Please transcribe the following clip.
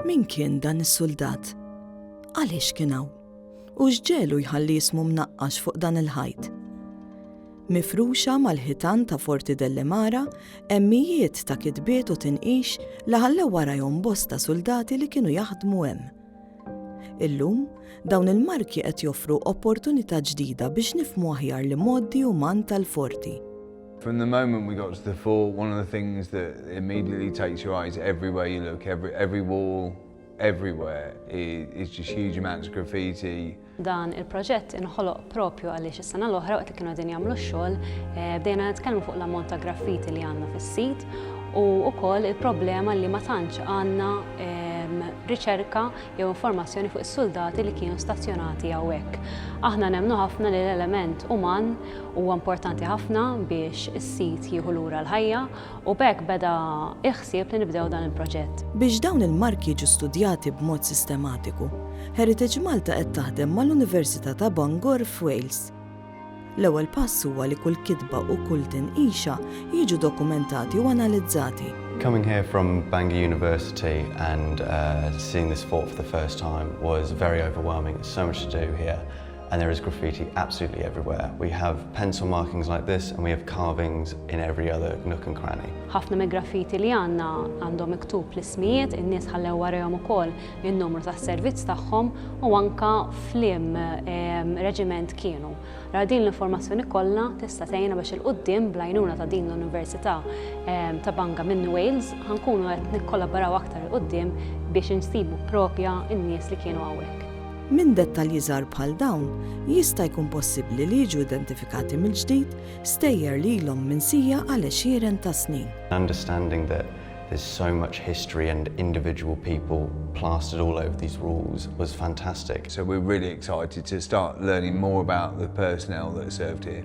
Min kien dan is-suldat? Għaliex kien hawn? U x'ġelu jħalli jismu mnaqqax fuq dan il-ħajt? Mifruxa mal-ħitan ta' Forti Dellemara, emmijiet ta' kitbiet u tinqix li ħallew warajhom bosta suldati li kienu jaħdmu hemm. Illum, dawn il-marki qed joffru opportunità ġdida biex nifhmu aħjar l-imgħoddi uman tal-Forti. From the moment we got to the fort, one of the things that immediately takes your eyes everywhere you look, every, every wall, everywhere, is, is just huge amounts of graffiti. Dan il-proġett inħoloq propju għaliex is-sena l-oħra waqt li kienu qegħdin jagħmlu x-xogħol eh, bdejna nitkellmu fuq l-ammont ta' graffiti li għandna fis-sit u wkoll il-problema li ma tantx għandna ehm, riċerka jew informazzjoni fuq is-suldati li kienu stazzjonati hawnhekk. Aħna nemmnu ħafna li l-element uman huwa importanti ħafna biex is-sit jieħu lura l-ħajja u b'hekk beda l-ħsieb li nibdew dan il-proġett. Biex dawn il-marki jiġu studjati b'mod sistematiku, Heritage Malta qed taħdem mal-Università ta' Bangor f'Wales. L-ewwel pass huwa li kull kitba u kull tinqisha jiġu dokumentati u analizzati. Coming here from Bangor University and seeing this fort for the first time was very overwhelming, so much to do here. And there is graffiti absolutely everywhere. We have pencil markings like this and we have carvings in every other nook and cranny. Ħafna me graffiti li għanna għandhom miktub l-ismijiet, in-nies ħallew warehom ukoll in-numru tas-servizz tagħhom u anka flim ehm, reġiment kienu. Ra din l-informazzjoni kollha tista' tgħinna biex il-qudiem blajnuna ta' din l-Università ehm, ta' Banga minn Wales ħankunu qed nikkollaboraw aktar il-qudiem biex insibu propja n-nies li kienu hawnhekk. Minn dettalji żgħar bħal dawn jista' jkun possibbli li jiġu identifikati mill-ġdid stejjer li ilhom minsija għal għexieren ta' snin. Understanding that there's so much history and individual people plastered all over these walls was fantastic. So we're really excited to start learning more about the personnel that served here.